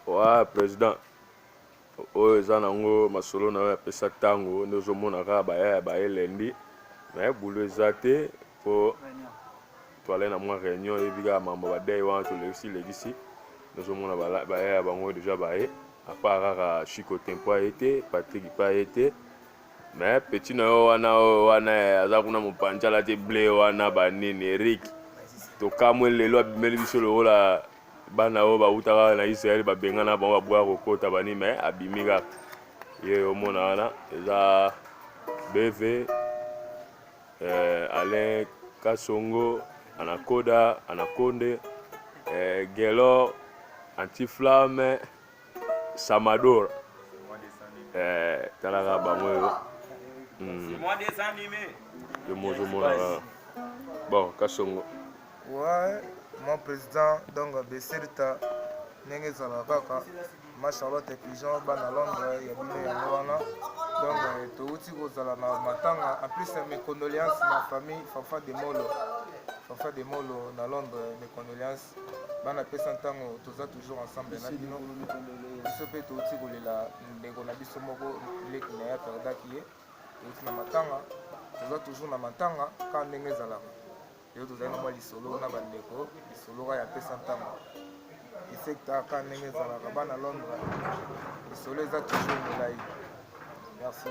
wa president oyo eza nango masolo na oyo apesa ntango nde ozomona kaka baya ya baye lendi me bulu eza te mpo toale na mwa réunion eyebi kaka mambo badei wana tolekisi lekisi tozomona baya ya bango deja baye apa kaka chiko tempo aye te patrik mpe aye te me petit na yo wana oyo wana aza kuna mopanjala te ble wana banini erik tokamwe lelo abimeli biso lokola bana oyo bauta kaka na israele babengana bango baboya kokota bani me abimi kaka ye omona wana eza bv eh, alain kasongo anakoda anakonde eh, gelor antiflamme Samador. Eh, talaka bango yo. Hmm. C'est moi des animés. Yo mozo mona. Bon, kasongo. Ouais, mon président donc Besirta ndenge ezalaka kaka ma charlotte pigeon bana londres ya bino yango wana donc euh, touti kozala na matanga en plus euh, mes condoléances na famille fafa de molo fafa de molo na londres mes condoléances bana pesa ntango toza toujours ensemble na bino biso mpe touti kolela ndeko na biso moko leki na ye aperdaki ye touti na matanga toza toujours na matanga kaka ndenge ezalaka lelo tozali na mwa lisolo na bandeko lisolo kaka ya pesa ntango esekta kaka ndenge ezalaka bana londre lisolo eza toujours molai merci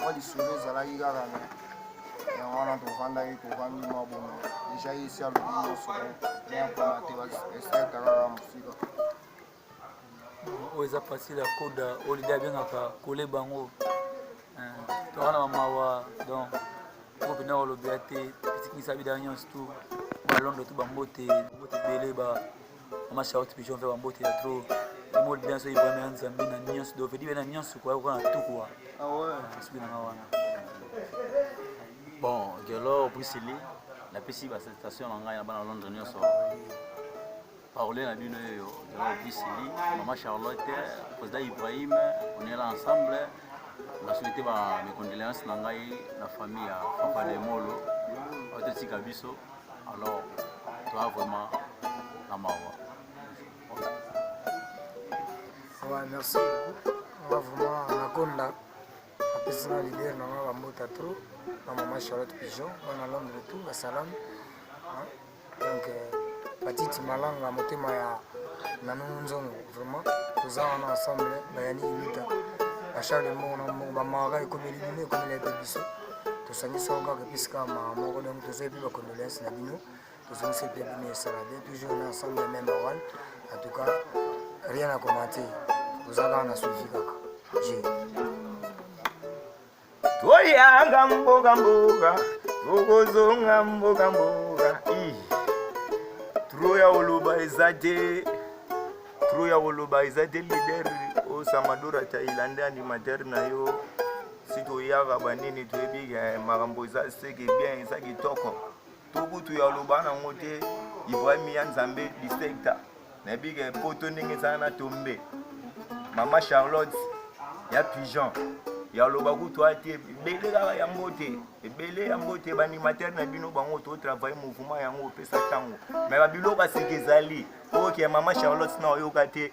mwa lisolo ezalaki kaka na yango wana tovandaki tovandi mwa bomo deja ye esi alobi nyonso me akoma te baeserte kaka mosika oyo eza facile ya koda oyo lide abengaka kole bango eh, toka na bamawa donc oyo mpenza kolobela te etikisa bida nyonso tu balondo tu bambote mbote ebele ba mama charlotte pigeon mpe bambote ya tro mol bien so ibrahima ya nzambe na nyonso dovedi be na nyonso koya koka na tukua soki nanga wana bon gelor brisili napesi basalutation na ngai na bana londre nyonso parole na bino oyo gelor brisili mama charlotte président ibrahim on est là ensemble na souhaite ba mes condoléances na ngai na famille ya papa de molo oyo totika biso alors toi vraiment na mawa ouais merci nga vraiment nakonda apesi na leader na nga bambota trop na mama charlotte pigeon bana londre tout basalami donc euh, batiti malanga motema ya nanu nzongo vraiment toza wana ensemble bayani iluta bacharle moko na moko bamawaka ekomi elimine ekomi na ete biso tosangisi yango kaka epesi kaka mawa moko donc tozali mpe bacondoléance na bino tozongisi mpe bino esalade toujours na ensemble ya meme awal en tout cas rien à commenter oza kaka na suivi kaka je toyanga mboka mboka tokozonga mboka mboka tro ya koloba eza te tro ya koloba eza te lider osamadora tailande animateur na yo si toyaka banini toyebi ke eh, makambo eza seke bien eza kitoko to kutu ya loba nango te ibrahim ya nzambe districta nayebi ke eh, poto ndenge ezala na tombe mama charlotte ya pigeon ya loba kutu ate ebele kaka yango te ebele yango te baanimatere na bino bango totravaille mouvement yango opesa ntango me babiloko aseke ezali oke mama charlotte na oyoka te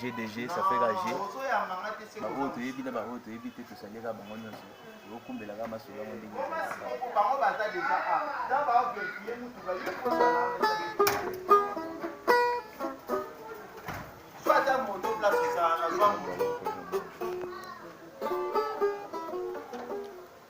G de G, ça fait la G. Baoyo toyebi na baoyo toyebi te tosalelaka bango nyonso tokumbelaka masolo yango ndenge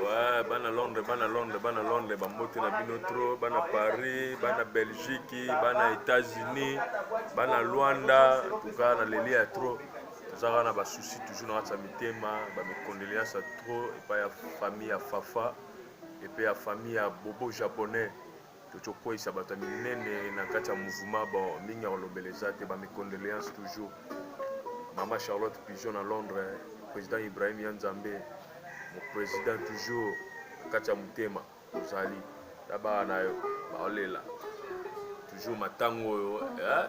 Ouais, bana Londres, bana Londres, bana Londres, bambote na bino trop, bana Paris, bana Belgique, bana États-Unis, bana Luanda, en tout cas na leli ya trop. Tozaka na ba soucis toujours na kati ya mitema, ba mes condoléances trop epai ya famille ya Fafa epai ya famille ya Bobo japonais. Coco kweyisa bato ya minene na kati ya mouvement bon mingi ya kolobela eza te bamicondoléance toujours mama charlotte pigeon na londres président ibrahim ya nzambe moprésident toujours na kati ya motema ozali na bana na yo baolela toujours matango oyo eh?